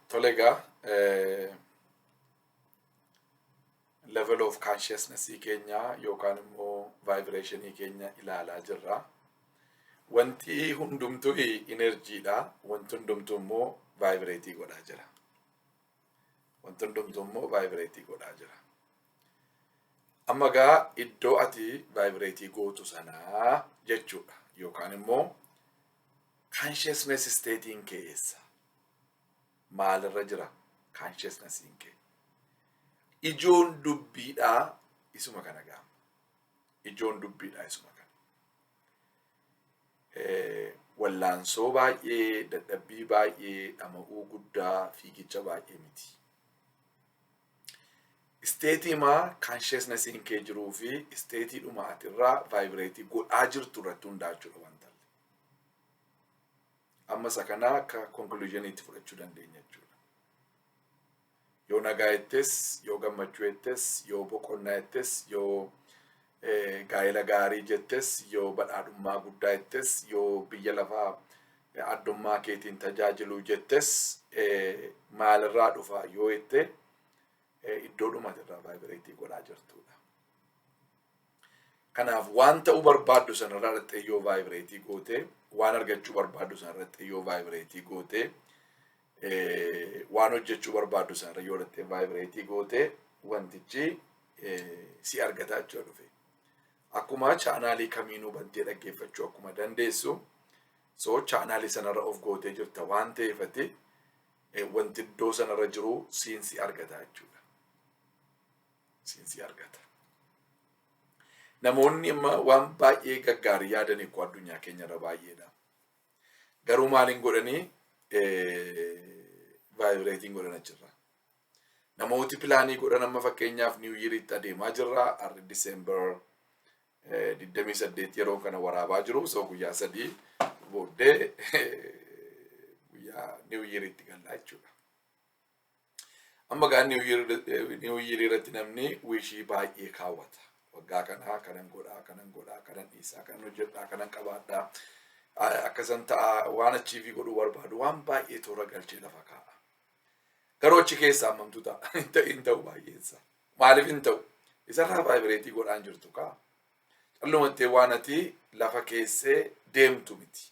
Tole egaa eh, level of consciousness keenya yookaan immoo vibration keenya ilaalaa jirra. Wanti hundumtuu energy dha. Wanti hundumtuu immoo vibrate godhaa jira. Wanti hundumtuu immoo vibrate godhaa jira. Amma egaa iddoo ati vibrate gootu sanaa jechuudha. Yookaan immoo Consciousness state'n kee eessa? Maalirra jira consciousness'n kee? Ijoon dubbiidhaa isuma kana gaama. Ijoon dubbiidhaa isuma kana. Wallaansoo baay'ee, dadhabbii baay'ee, dhama'uu guddaa, fiigicha baay'ee miti. Isteetii maa consciousness'n kee jiruu fi isteetii dhuma ati irraa vaayibireetii godhaa jirtu irratti hundaachuudha wantalli. amma isa kanaa akka conclusion itti fudhachuu dandeenya jechuudha. Yoo nagaa jettes, yoo gammachuu jettes, yoo boqonnaa jettes, yoo gaa'ela gaarii jettes, yoo badhaadhummaa guddaa jettes, yoo biyya lafaa addummaa keetiin tajaajiluu jettes maalirraa dhufa yoo jette iddoo dhumatirraa vaayibireetii godhaa jirtudha. Kanaaf waan ta'uu barbaaddu sanarraa dhaqxee yoo vaayibireetii gootee waan argachuu barbaaddu sanarra dhaqxee yoo vaayibireetii gootee waan hojjechuu barbaaddu sanarra yoo dhaqxee vaayibireetii gootee wantichi si argataa jechuu dhufe. Akkuma chaanaalii kamiinuu bantee dhaggeeffachuu akkuma dandeessu soo chaanaalii sanarra of gootee jirta waan ta'eefati wanti iddoo sanarra jiru siin si argataa jechuudha. siinsii argata. Namoonni amma waan baay'ee gaggaarii yaadan eekkoo addunyaa keenya irra baay'eedha. Garuu maaliin godhanii vaayibireetiin godhan achirraa. Namooti pilaanii godhan amma fakkeenyaaf niiw yiriitti adeemaa jirra. Arri Diseembar 28 yeroo kana waraabaa jiru. Soo guyyaa sadii booddee guyyaa niiw yiriitti gallaa jechuudha. Amma gaa New Year irratti namni wishii baay'ee kaawwata. Waggaa kanaa kanan godhaa, kanan godhaa, kanan dhiisaa, kanan hojjedhaa, kanan qabaadhaa, akkasan ta'a waan achiivii godhuu barbaadu waan baay'ee toora galchee lafa kaa'a. Garuu achi keessaa ammamtu ta'a. Hin ta'u baay'eensa. Maaliif hin ta'u? Isarraa vaayibireetii godhaan jirtu kaa. Callumattee waan ati lafa keessee deemtu miti.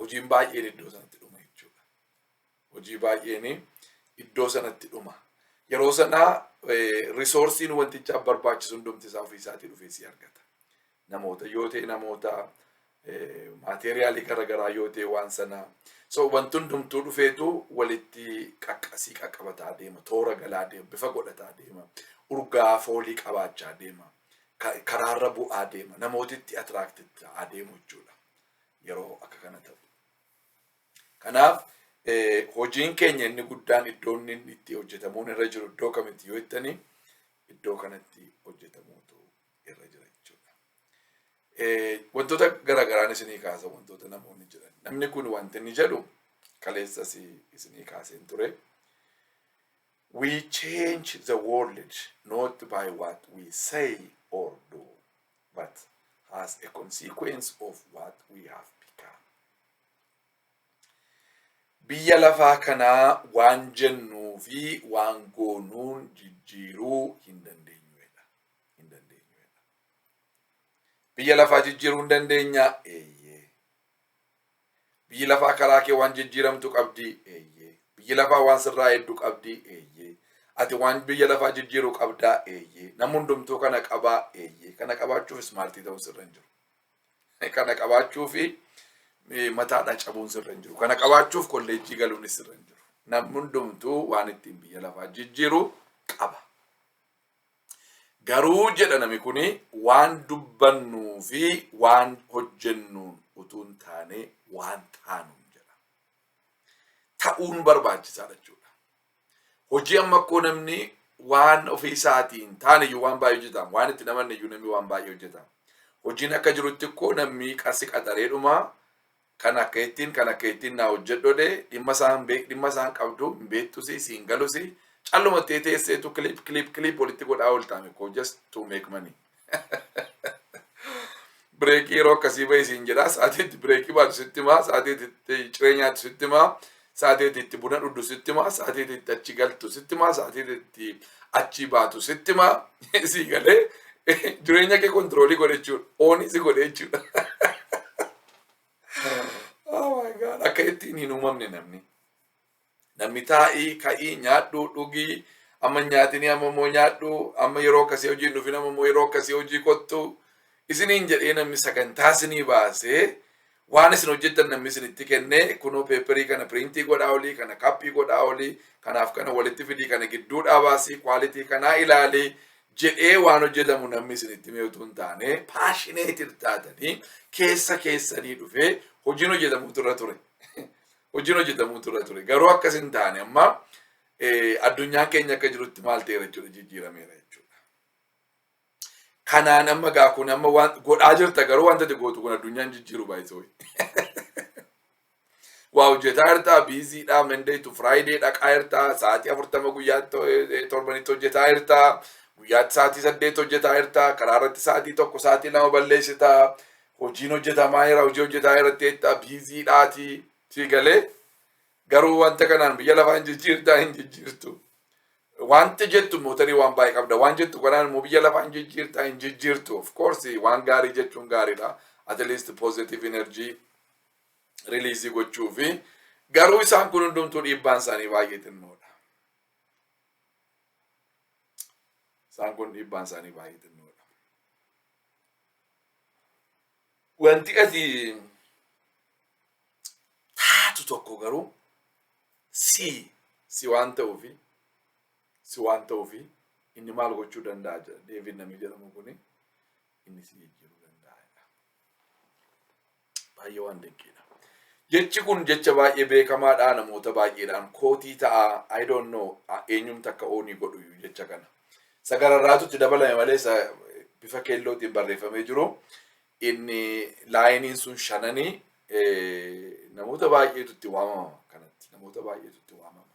hojiin baay'een iddoo sanatti dhuma jechuudha. Hojii baay'een iddoo sanatti dhuma. Yeroo sana risoorsiin wanticha barbaachisu hundumti isaa ofii isaatii dhufee si argata. Namoota yoo ta'e namoota maateeriyaalii garaagaraa yoo ta'e waan sana so wanti hundumtuu dhufeetu walitti qaqqasii qaqqabataa deema toora galaa deema bifa godhataa deema urgaa foolii qabaachaa deema karaarra bu'aa deema namootitti atiraaktitti ta'aa deemu jechuudha. yeroo akka kana ta'u. Kanaaf hojiin keenya inni guddaan iddoo inni itti hojjetamuun irra jiru iddoo kamitti yoo jettanii iddoo kanatti hojjetamuutu irra jira jechuudha. Wantoota garagaraan isinii kaasa wantoota namoonni jedhan. Namni kun wanti inni jedhu kaleessas isinii kaaseen ture. We change the world not by what we say or do. but as a consequence of what we have become. Biyya lafaa kanaa waan jennuu fi waan goonuun jijjiiruu hin dandeenyuedha. Hin dandeenyuedha. Biyya lafaa jijjiiruu hin dandeenya? Eeyyee. Biyyi lafaa karaa kee waan jijjiiramtu qabdii? Eeyyee. Biyyi lafaa waan sirraa eeddu qabdii? Eeyyee. Ati waan biyya lafaa jijjiiru qabdaa? Eeyyee. Namni hundumtuu kana qabaa? Eeyyee. Kana qabaachuuf ismaartii ta'uun sirra hin jiru. Kana qabaachuuf mataadhaa cabuun sirra hin jiru. Kana qabaachuuf kolleejjii galuunis sirra hin jiru. Namni hundumtuu waan ittiin biyya lafaa jijjiiru qaba. Garuu jedha nami kuni waan dubbannuu fi waan hojjennuun utuu hin taane waan taanuun jedha. Ta'uun barbaachisaadha jechuudha. Hojii amma akkoo namni waan ofii isaatii hin taane iyyuu waan baay'ee hojjetaan waan itti namanne iyyuu namni waan baay'ee hojjetaan. Hojiin akka jirutti akkoo namni qarsi qaxareedhuma Kan akka ittin kan akka ittin naa hojjedhode dhimma isaa hin beek dhimma isaa hin qabdu hin beektusi siin galusi calluma tee teesseetu clip clip clip walitti godhaa ooltaame koo just to make money. Bireekii yeroo akkasii bahi siin jedhaa sa'aatii itti bireekii baatu sitti himaa sa'aatii itti ciree nyaatu sitti himaa sa'aatii itti buna dhudhu sitti himaa sa'aatii itti achi galtu sitti himaa sa'aatii itti achi baatu sitti himaa sii galee jireenya kee kontiroolii godhe jechuudha oonii si godhe jechuudha. Oh my God. Akka ittiin hin uumamne namni. Namni taa'ii, ka'ii, nyaadhuu, dhugii, amma hin nyaatinii, amma immoo nyaadhuu, amma yeroo akkasii hojii hin dhufin, amma immoo yeroo akkasii hojii kottu. Isiniin jedhee namni sagantaa isinii baasee waan isin hojjettan namni isinitti kennee kunoo peeperii kana piriintii godhaa olii, kana kappii godhaa olii, kanaaf kana walitti fidii, kana gidduu dhaabaasii, kwaalitii kanaa ilaalii, jedhee waan hojjetamu namni isinitti himee utuu hin taane paashineetir taatanii keessa keessanii dhufee hojiin hojjetamutu irra ture. Hojiin hojjetamutu irra ture. Garuu akkas hin taane amma eh, addunyaan keenya akka jirutti maal ta'eera jechuudha jijjiirameera jechuudha. Kanaan amma gaa kun amma waan godhaa jirta garuu wanta ati gootu kun addunyaan jijjiiru baay'isoo. waa hojjetaa jirtaa biiziidhaa Monday to Friday dhaqaa jirtaa sa'aatii afurtama guyyaatti eh, torbanitti hojjetaa jirtaa guyyaatti sa'aatii saddeet hojjetaa jirtaa karaa irratti sa'aatii tokko sa'aatii lama balleessitaa hojiin hojjetamaa jira hojii hojjetaa irratti jeettaa biiziidhaati sii galee garuu wanta kanaan biyya lafaa hin jijjiirtaa hin jijjiirtu. Wanti jettu mootarii waan baay'ee qabda. Waan jettu kanaan immoo biyya lafaa hin jijjiirtaa hin jijjiirtu. Of course waan gaarii jechuun gaariidha. At least positive energy riliizii gochuu fi garuu isaan kun hundumtuu dhiibbaan isaanii baay'ee xinnoodha. Isaan kun dhiibbaan isaanii baay'ee xinnoodha. Wanti ati taatu tokko garuu si si waan ta'uufi si waan ta'uufi inni maal gochuu danda'a jedha Deevid namni jedhamu kuni inni si jijjiiruu danda'a. Baay'ee waan dinqiidha. Jechi kun jecha baay'ee beekamaadha namoota baay'eedhaan kootii ta'a I don't know eenyumti akka oonii godhu jecha kana. Isa gararraatu itti dabalame malee isa bifa keellootiin barreeffamee jiru inni laayiniin sun shananii namoota baay'eetu itti waamama kanatti namoota baay'eetu itti waamama.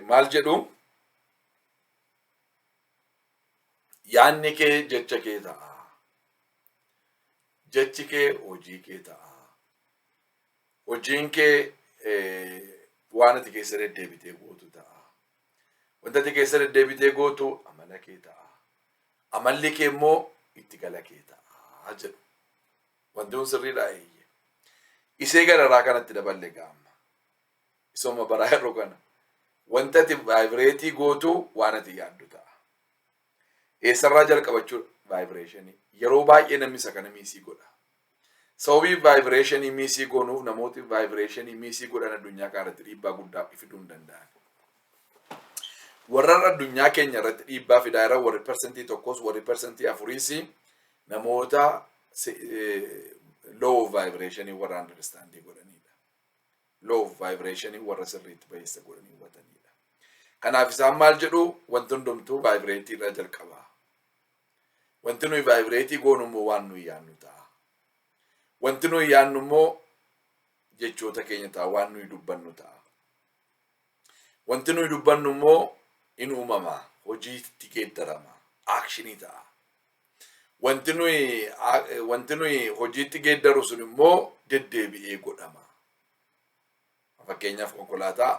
Maal jedhu? Yaanni kee jecha kee ta'a. Jechi kee hojii kee ta'a. Hojiin kee waan ati keessa deddeebitee gootu ta'a. Wanta ati keessa deddeebitee gootu amala kee ta'a. Amalli kee immoo itti gala kee ta'a jedhu. Wanti kun sirriidha eeyyee. Isee gararaa kanatti daballe gaamma. Misooma baraa yeroo kana wanta ati vaayibireetii gootu waan ati yaaddu ta'a. Eessarraa jalqabachuu vaayibireeshinii? Yeroo baay'ee namni isa kana miisii godha. Sababii vaayibireeshinii miisii goonuuf namooti vaayibireeshinii miisii godhan addunyaa kana irratti dhiibbaa guddaa fiduu hin danda'an. Warra addunyaa keenya irratti dhiibbaa fidaa irra warri persentii tokkos warri persentii afuriis namoota low of vaayibireeshinii warra andarstaandii godhanidha. Law of vibration warra sirriitti bayeessa godhanii hubataniidha. Kanaaf isaan maal jedhu wanti hundumtuu vaayibireetii irraa jalqaba. Wanti nuyi vaayibireetii goonu immoo waan nuyi yaannu ta'a. Wanti nuyi yaannu immoo jechoota keenya ta'a waan nuyi dubbannu ta'a. Wanti nuyi dubbannu immoo in uumama hojiitti geeddarama akshinii ta'a. Wanti nuyi wanti nuyi hojiitti geeddaru sun immoo deddeebi'ee godhama. Fakkeenyaaf konkolaataa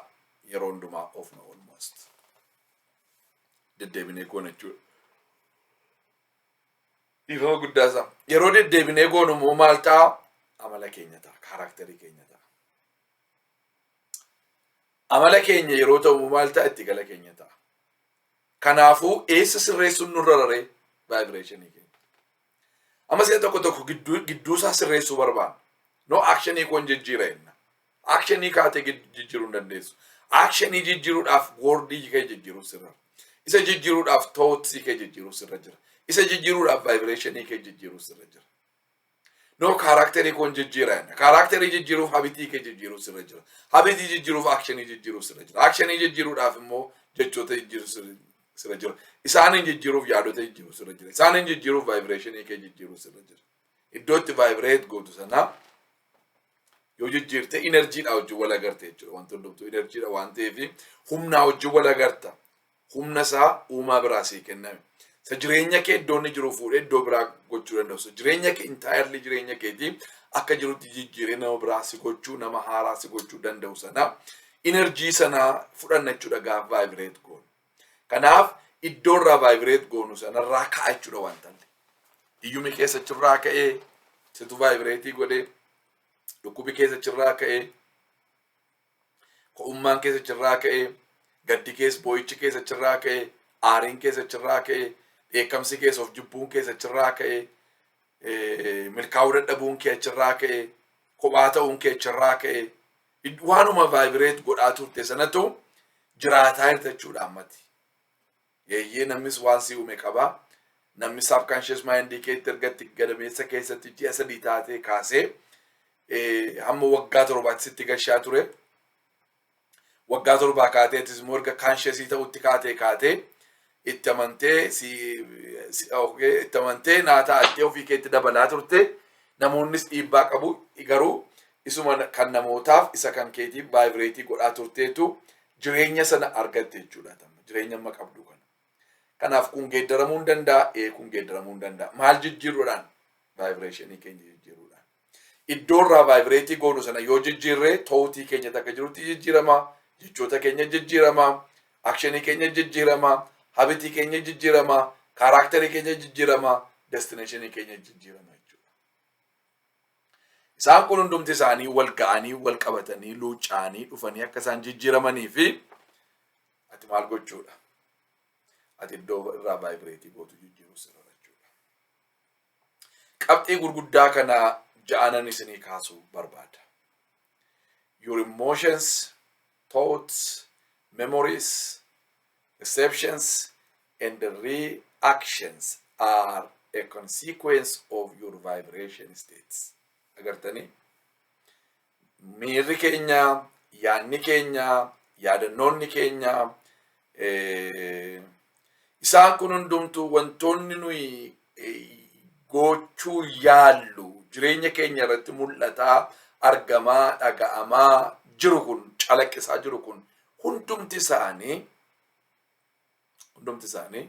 yeroo hundumaa oofna almost. Deddeebinee goona jechuudha. Dhiifama guddaa isaa. Yeroo deddeebinee goonu immoo maal ta'a? Amala keenya ta'a. Kaaraakterii keenya ta'a. Amala keenya yeroo ta'u immoo maal ta'a? Itti gala keenya ta'a. Kanaafuu eessa sirreessuun nurra raree vaayibireeshinii keenya. Amma si'a tokko tokko gidduu gidduu isaa sirreessuu barbaanna. No akshinii koon jijjiira jenna. Akshinii kaatee gid- jijjiiruu hin dandeessu. Akshinii jijjiiruudhaaf woordii kee jijjiiruu sirra. Isa jijjiiruudhaaf tootsii kee jijjiiruu sirra jira. Isa jijjiiruudhaaf vaayibireeshinii kee jijjiiruu sirra jira. No kaaraakterii koon jijjiira jenna. Kaaraakterii jijjiiruuf habitii kee jijjiiruuf sirra jira. Habitii jijjiiruuf akshinii jijjiiruuf sirra jira. Akshinii jijjiiruudhaaf immoo jechoota jijjiiruuf sirra- sirra jira. Isaaniin jijjiiruuf yaadota jijjiiruuf sirra jira. Isaaniin jijjiiruuf vaayibireeshinii kee jijjiiruuf sirra jira. Iddoo itti vaayibireet gootu sanaa yoo jijjiirte inerjiidha wajjin wal agarta jechuudha. Wanti hundumtuu inerjiidha waan ta'eef humnaa wajjin wal agarta. Humna isaa uumaa biraa sii kenname. Isa jireenya kee iddoo inni jiru fuudhee iddoo biraa gochuu danda'u. Isa jireenya kee entirely jireenya keetii akka jirutti jijjiiree nama biraa si gochuu nama haaraa si gochuu danda'u sana energy sana fudhanna jechuudha gaaf vibrate goonu. Kanaaf iddoo irraa vibrate goonu sanarraa ka'a jechuudha wanta illee. Hiyyumi keessa chirraa ka'ee situ vibrate godhee dhukkubi keessa chirraa ka'ee Ko'ummaan keessa chirraa ka'e, gaddi keessa boo'ichi keessa chirraa ka'e, aariin keessa chirraa ka'e, dheekkamsi keessa of jibbuun keessa chirraa ka'e, milkaa'uu dadhabuun kee chirraa ka'e, kophaa ta'uun kee chirraa ka'e, waanuma vaayibireet godhaa turte sanatu jiraataa jirta jechuudha ammatti. Eeyyee namnis waan si uume qaba. Namni subconscious mind keetti erga itti gadameessa keessatti ji'a sadii taatee kaasee hamma waggaa torbaatti sitti gashaa ture. Waggaa torbaa kaatee atis immoo erga conscious ta'utti kaatee kaatee itti amantee si itti amantee naa ta'attee ofii keetti dabalaa turte. Namoonnis dhiibbaa qabu garuu Isuma kan namootaaf isa kan keetiif vaayibireetii godhaa turteetu jireenya sana argatte jechuudha. Tamma jireenya amma qabdu kana. Kanaaf kun geeddaramuu hin danda'a, ee kun geeddaramuu hin danda'a. Maal jijjiiruudhaan? Vaayibireeshinii keenya jijjiiruudhaan. Iddoo irraa vaayibireetii goonu sana yoo jijjiirre ta'uutii keenya takka jirutti jijjiirama, jechoota keenya jijjiirama, akshinii keenya jijjiirama, habitii keenya jijjiirama, kaaraakterii keenya jijjiirama, destineeshinii keenya jijjiirama jechuudha. Isaan kun hundumti isaanii wal ga'anii, wal qabatanii, luucca'anii dhufanii akka isaan jijjiiramanii fi ati maal gochuudha? Ati iddoo irraa vaayibireetii gootu jijjiiruu sirra jechuudha. Qabxii gurguddaa kana ja'anan isinii kaasuu barbaada. your emotions, thoughts, memories, perceptions, and reactions are a consequence of your vibration states. Agartanii? Miirri keenya, yaadni keenya, yaadannoonni keenya, Isaan kun hundumtuu wantoonni nuyi gochuu yaallu jireenya keenya irratti mul'ataa argamaa dhaga'amaa jiru kun calaqqisaa jiru kun hundumti isaanii hundumti isaanii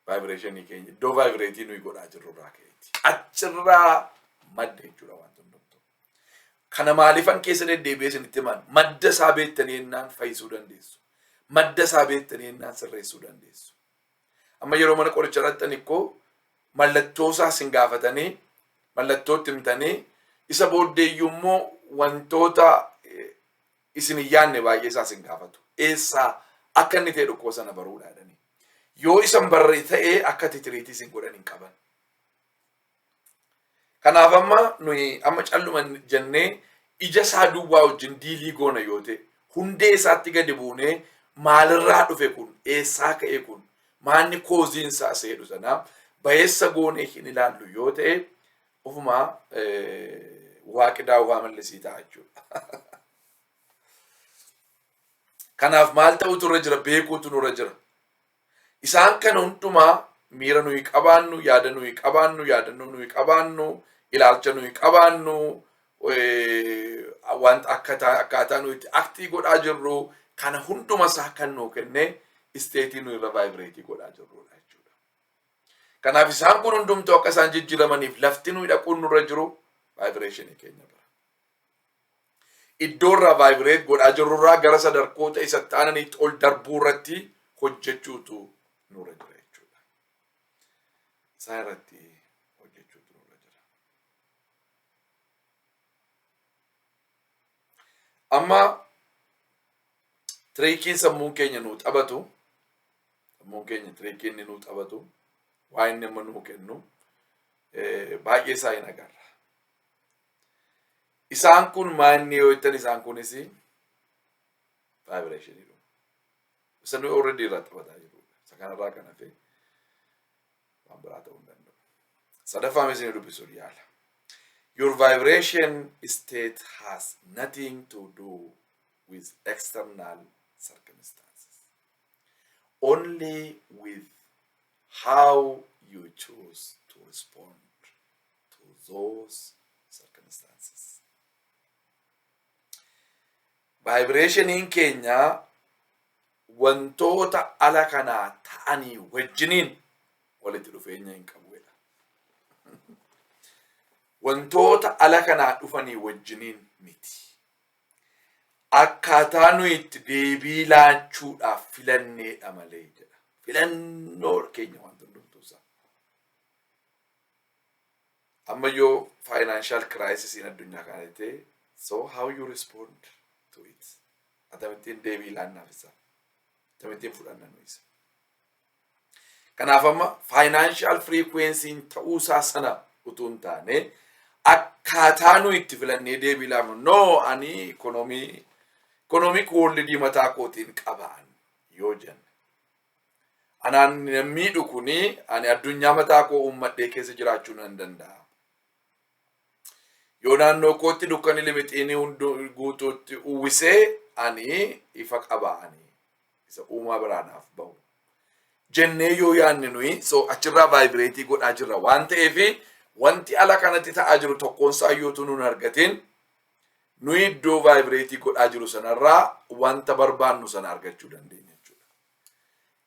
vaayibireeshinii keenya iddoo vaayibireetii nuyi godhaa jirru irraa ka'eeti. Achirraa madda jechuudha wanti hundumtuu. Kana maalifan keessa deddeebi'ee isinitti himaan madda isaa beektanii ennaan fayyisuu dandeessu. Madda isaa beektanii ennaan sirreessuu dandeessu. Amma yeroo mana qorichaa dhaqxan ikkoo mallattoo isaa isin gaafatanii mallattoo itti himtanii isa booddee iyyuu immoo wantoota eh, isin hin yaadne baay'ee isaa isin gaafatu. Eessaa akka inni ta'e dhukkuba sana baruudhaadhani. Yoo isan barre ta'ee akka titiriitii isin godhan hin qaban. Kanaaf amma nuyi amma calluma jennee ija isaa duwwaa wajjin diilii goona yoo ta'e hundee isaatti gadi buunee maalirraa dhufe kun eessaa ka'e kun maanni kooziin isaa seedhu sana bayeessa goonee hin ilaallu yoo ta'e ofuma waaqi daawwaa mallisii ta'a jechuudha. Kanaaf maal ta'utu irra jira beekuutu nurra jira. Isaan kana hundumaa miira nuyi qabaannu, yaada nuyi qabaannu, yaadannoo nuyi qabaannu, ilaalcha nuyi qabaannu, wanta akkaataa nuyi itti aktii godhaa jirru kana hunduma isaa kan nuu kenne isteetii nuyi irra vaayibireetii godhaa jirrudha jechuudha. Kanaaf isaan kun hundumtuu akka isaan jijjiiramaniif lafti nuyi dhaquun nurra jiru vaayibireeshinii keenya bira. iddoo irraa vaayibireet godhaa jirru irraa gara sadarkoota isa taananitti ol darbuu irratti hojjechuutu nurra jira jechuudha. Isaa irratti hojjechuutu nurra jira. Amma tiriikiin sammuun keenya nuu taphatu sammuun keenya tiriikii inni nuu taphatu waa inni amma nuu kennu baay'ee isaa hin agarra. Isaan kun maanni yoo jettan isaan kunis vaayibireeshinii dhufu. Isa nuyi already irraa taphataa jirudha. Isa kanarraa kan hafe waan biraa ta'uu hin danda'u. Sadaffaa mee isin dubbisuuf yaala. Your vibration state has nothing to do with external circumstances. Only with how you choose to respond to those circumstances. Vaayibireeshiniin keenya wantoota ala kanaa ta'anii wajjiniin walitti dhufeenya hin qabu jedha. Wantoota ala kanaa dhufanii wajjiniin miti. Akkaataa nuyi itti deebii laachuudhaaf filanneedha malee jedha. Filannoo keenya wanti hundumtuu isaa. amma yoo financial crisis in addunyaa kana jette so how you respond to it atamittiin deebii laannaaf isa atamittiin fudhanna nu isa kanaaf amma financial frequency ta'uu isaa sana utuu hin taane akkaataa nu itti filannee deebii laannu no ani ikonomii ikonomii koolli diimataa kootiin qabaan yoo jenna Anaan miidhu kuni ani addunyaa mataa koo uummadhee keessa jiraachuu nan danda'a. Yoo naannoo kootti dukkani limixiini hunduu guutuutti uwwisee ani ifa qaba ani isa uumaa biraa naaf bahu. Jennee yoo yaanne nuyi so achirraa vaayibireetii godhaa jirra waan ta'eef wanti ala kanatti ta'aa jiru tokkoon isaa iyyuu utuu nun argatiin Nuyi iddoo vaayibireetii godhaa jiru sanarraa wanta barbaannu sana argachuu dandeenya jechuudha.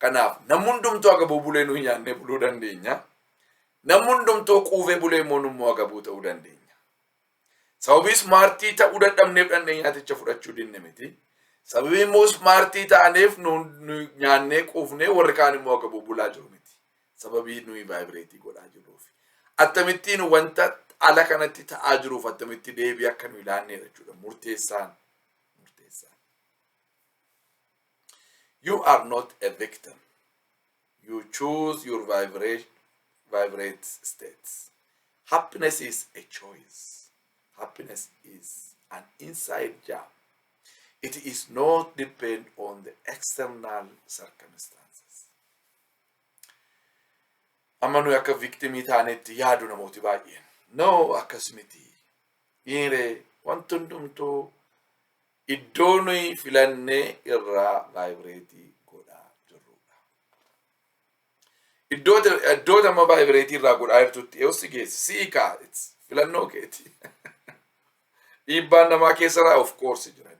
Kanaaf namni hundumtuu agabuu bulee nuyi nyaannee buluu dandeenya. Namni hundumtuu quufee bulee immoo nummoo agabuu ta'uu dandeenya. Sababii ismaartii ta'uu dadhabneef dhandhee nyaaticha fudhachuu dinne miti. Sababii immoo ismaartii taaneef nu nu nyaannee quufnee warri kaan immoo agabuu bulaa jiru miti. sababii nuyi vaayibireetii godhaa jirruuf attamittiin wanta ala kanatti ta'aa jiruuf attamitti deebii akka nuyi laanneedha jechuudha murteessaan murteessaan you are not a victim you choose your vibration vibrate states happiness is a choice happiness is an inside job it is not depend on the external circumstances Amma nuyi akka viktimii taanetti yaadu namooti baay'een. No akkas miti. Dhiiree wanti hundumtuu iddoo nuyi filannee irraa vaayibireetii godhaa jirrudha. Iddoo amma vaayibireetii irraa godhaa jirtutti yoo si geessi si'i kaa filannoo keeti. Dhiibbaan namaa keessa irraa of koorsi jiran.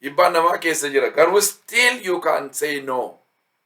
Dhiibbaan namaa keessa jira garuu still you can say no.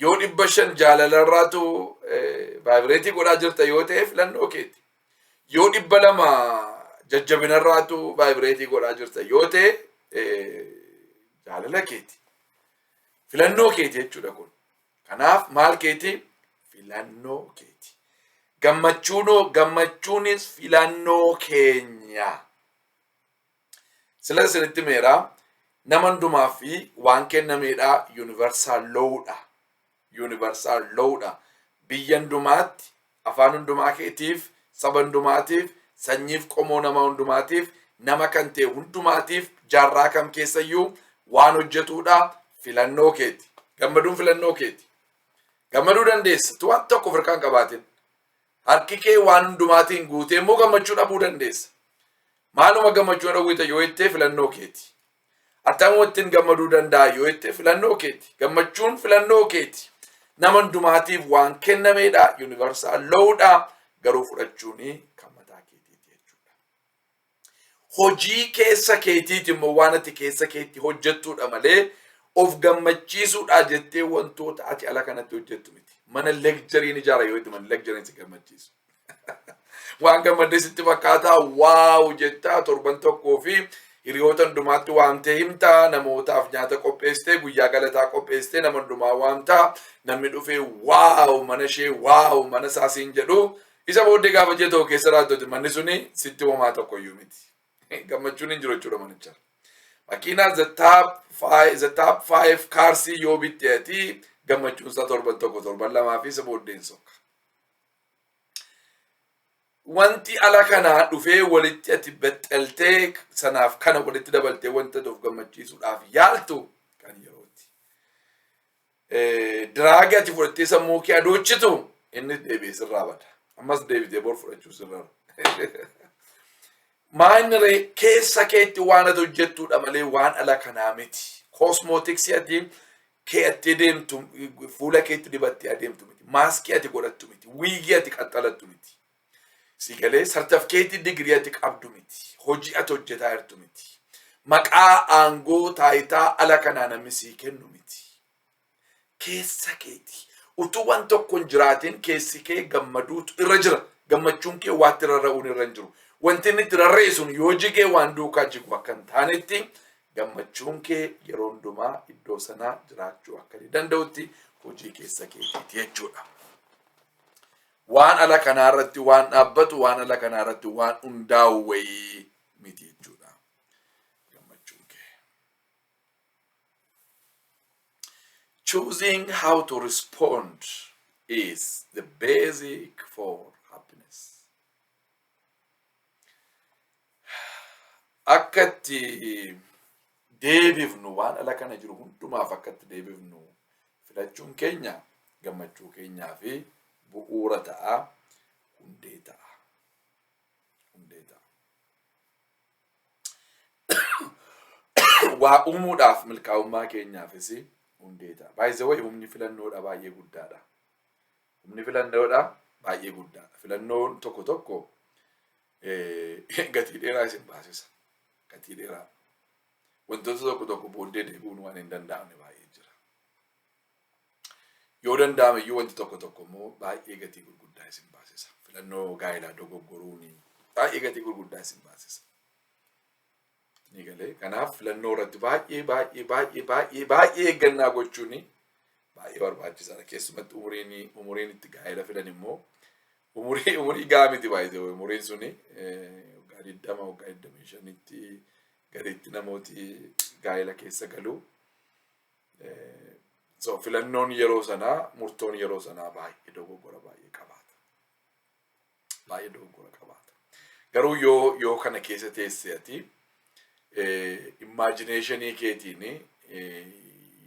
Yoo dhibba shan jaalalarraatu vaayibireetii godhaa jirta yoo ta'e filannoo keeti. Yoo dhibba lama jajjabinarraatu vaayibireetii godhaa jirta yoo ta'e jaalala keeti. Filannoo keeti jechuudha kun. Kanaaf maal keeti? Filannoo keeti. Gammachuunoo gammachuunis filannoo keenya. Silan isinitti himeera nama hundumaaf waan kennameedha universal law dha. Universal law dha. Biyya hundumaatti afaan hundumaa keetiif saba hundumaatiif sanyiif qomoo nama hundumaatiif nama kan ta'e hundumaatiif jaarraa kam keessayyuu waan hojjetuudha filannoo keeti. Gammaduun filannoo keeti. Gammaduu dandeessa tu waan tokko firqaan qabaatin. Harki kee waan hundumaatiin guutee immoo gammachuu dhabuu dandeessa. Maaluma gammachuu na dhowwita yoo jettee filannoo keeti. Attamuma ittiin gammaduu danda'a yoo jettee filannoo keeti. Gammachuun filannoo keeti. Nama hundumaatiif waan kennameedha. Yuunivarsaal loowudha. Garuu fudhachuun kan mataa keetiiti jechuudha. Hojii keessa keetiiti immoo waan ati keessa keetti hojjettuudha malee of gammachiisuudhaa jettee wantoota ati ala kanatti hojjettu miti. Mana lekjariin ijaara yoo itti mana lekjariin si gammachiisu. waan gammaddee sitti fakkaataa waaw jettaa torban tokkoo fi hiriyoota hundumaatti waamtee himtaa namootaaf nyaata qopheessitee guyyaa galataa qopheessitee nama hundumaa waamtaa namni dhufee waaw mana ishee waaw mana isaa siin jedhu Isa booddee gaafa ji'a tokko keessa raaddote manni suni sitti homaa tokko iyyuu miti. Gammachuun hin jiru jechuudha manicharra. Makiinaa the top five, the top five cars yoo bitte ati gammachuun isaa torban tokko torban lamaa fi isa booddeen sokka. Wanti ala kanaa dhufee walitti ati bexxeltee sanaaf kana walitti dabaltee wanta of gammachiisuudhaaf yaaltu kan yerooti. Diraagi ati fudhattee sammuu kee adoochitu inni deebi'ee sirraa bada. Ammas deebitee bor fudhachuu sirraa. Maa inni ree keessa keetti waan ati hojjettudha malee waan ala kanaa miti. Koosmootiksii ati kee'attee deemtu fuula keetti dibattee adeemtu miti. Maaskii ati godhattu miti. Wiigii ati qaxxalattu miti. Sii galee sartafkeetii digirii ati qabdu miti. Hojii ati hojjetaa jirtu miti. Maqaa aangoo taayitaa ala kanaa namni sii kennu miti. Keessa keeti. Utuu waan tokko hin jiraatiin keessi kee gammaduutu irra jira. Gammachuun kee waatti rarra'uun irra hin jiru. Wanti inni itti rarra'e sun yoo jigee waan duukaa jigu akka hin taanetti gammachuun kee yeroo hundumaa iddoo sanaa jiraachuu akka inni danda'utti hojii keessa keetiiti jechuudha. Waan ala kanaa irratti waan dhaabbatu, waan ala kanaa irratti waan hundaa'u wayii miti jechuudha. Gammachuun kee. Choosing how to respond is the basic for happiness. akka itti deebifnu waan ala kana jiru hundumaaf akka itti deebifnu filachuun keenya gammachuu keenyaa fi bu'uura ta'a hundee ta'a hundee ta'a waa uumuudhaaf milkaa'ummaa keenyaafis hundee ta'a baay'ee wayi humni filannoodha baay'ee guddaadha humni filannoodha baay'ee guddaadha filannoon tokko tokko gatii dheeraa isin baasisa. Gatii dheeraa. Wantoota tokko tokko booddee deebi'uun waan hin danda'amne baay'ee jira. Yoo danda'ame iyyuu wanti tokko tokko immoo baay'ee gatii gurguddaa isin baasisa. Filannoo gaa'elaa dogoggoruun baay'ee gatii gurguddaa isin baasisa. Ni galee. Kanaaf filannoo irratti baay'ee baay'ee baay'ee baay'ee baay'ee eeggannaa gochuun baay'ee barbaachisaadha. Keessumatti umuriin umuriin itti gaa'ela filan immoo Umurii umurii gahaa miti baay'ee umuriin suni waggaa digdama waggaa digdamii shanitti gaditti namooti gaa'ela keessa galu. So filannoon yeroo sanaa murtoon yeroo sanaa baay'ee dogoggora baay'ee qabaata. Baay'ee dogoggora qabaata. Garuu yoo yoo kana keessa teesse ati immaajineeshinii keetiin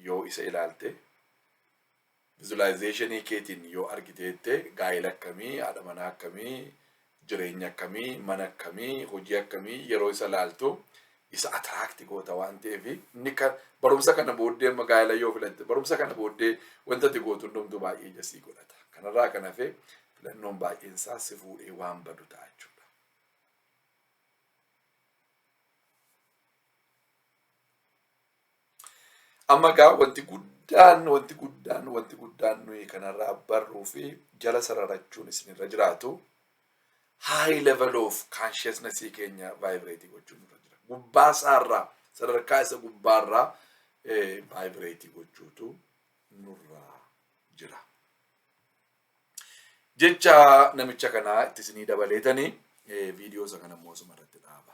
yoo isa ilaalte Visualization keetiin yoo argite jette gaa'ela akkamii, haadha manaa akkamii, jireenya akkamii, mana akkamii, hojii akkamii yeroo isa laaltu isa attract goota waan ta'eef inni kan barumsa kana booddee amma gaa'ela yoo filatte barumsa kana booddee wanta ati gootu hundumtuu baay'ee ija sii godhata. Kanarraa kan hafe filannoon baay'een isaa si fuudhee waan badu ta'a jechuudha. Amma gaa wanti guddaan wanti guddaan wanti guddaan nuyi kanarraa barruu fi jala sararachuun isinirra jiraatu high level of consciousness keenya vibrate gochuun irra jira. Gubbaa isaarraa sadarkaa isa gubbaarraa vibrate gochuutu nurra jira. Jecha namicha kanaa itti isinii dabaleetanii viidiyoo isa kana immoo asuma irratti dhaaba.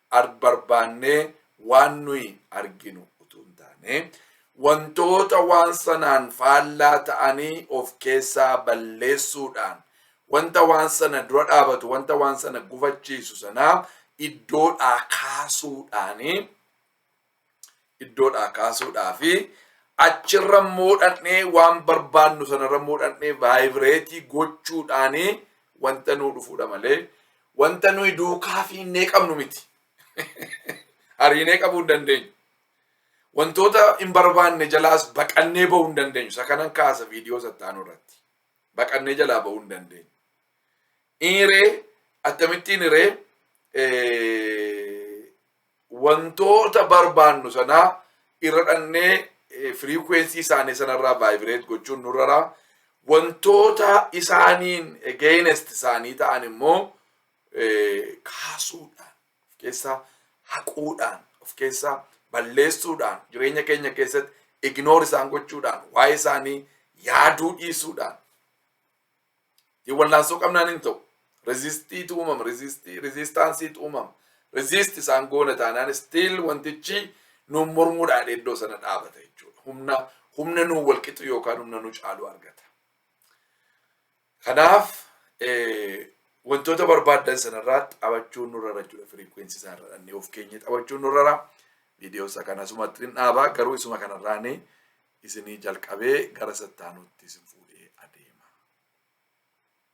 ar barbaannee waan nuyi arginu utuu hin taane wantoota waan sanaan faallaa ta'anii of keessaa balleessuudhaan wanta waan sana dura dhaabatu wanta waan sana gufachiisu sanaa iddoodhaa kaasuudhaanii iddoodhaa kaasuudhaa fi achirra moodhannee waan barbaannu sanarra moodhannee vaayibireetii gochuudhaani wanta nuu dhufuudha malee wanta nuyi duukaa fiinnee qabnu miti. Ariinee qabuu hin dandeenyu. Wantoota hin barbaanne jalaas baqannee bahuu hin dandeenyu. Isa kanan kaasa viidiyoo sattaanuu irratti. Baqannee jalaa bahuu hin dandeenyu. Inni hiree akkamittiin hiree wantoota barbaannu sanaa irra dhannee firiikweensii isaanii sanarraa vaayibireet gochuun nurraraa wantoota isaaniin geenest isaanii ta'an immoo kaasuudhaan of keessaa haquudhaan of keessaa balleessuudhaan jireenya keenya keessatti ignoor isaan gochuudhaan waa'ee isaanii yaaduu dhiisuudhaan Hin wallaansoo qabnaan hin ta'u. Rezistiitu uumama. Rezistii, rezistaansiitu uumama. Rezist isaan goona taanaan stiil wantichi nuun mormuudhaan iddoo sana dhaabata jechuudha. Humna humna nuun wal qixu yookaan humna nu caalu argata. Kanaaf wantoota barbaaddan sanarraa taphachuun nurra jira jechuudha. Firiikweensi isaa irra dhannee of keenya taphachuun nurra jira. Viidiyoo isaa kana asumatti hin dhaaba garuu isuma kanarraanii isinii jalqabee gara sattaanuutti isin fuudhee adeema.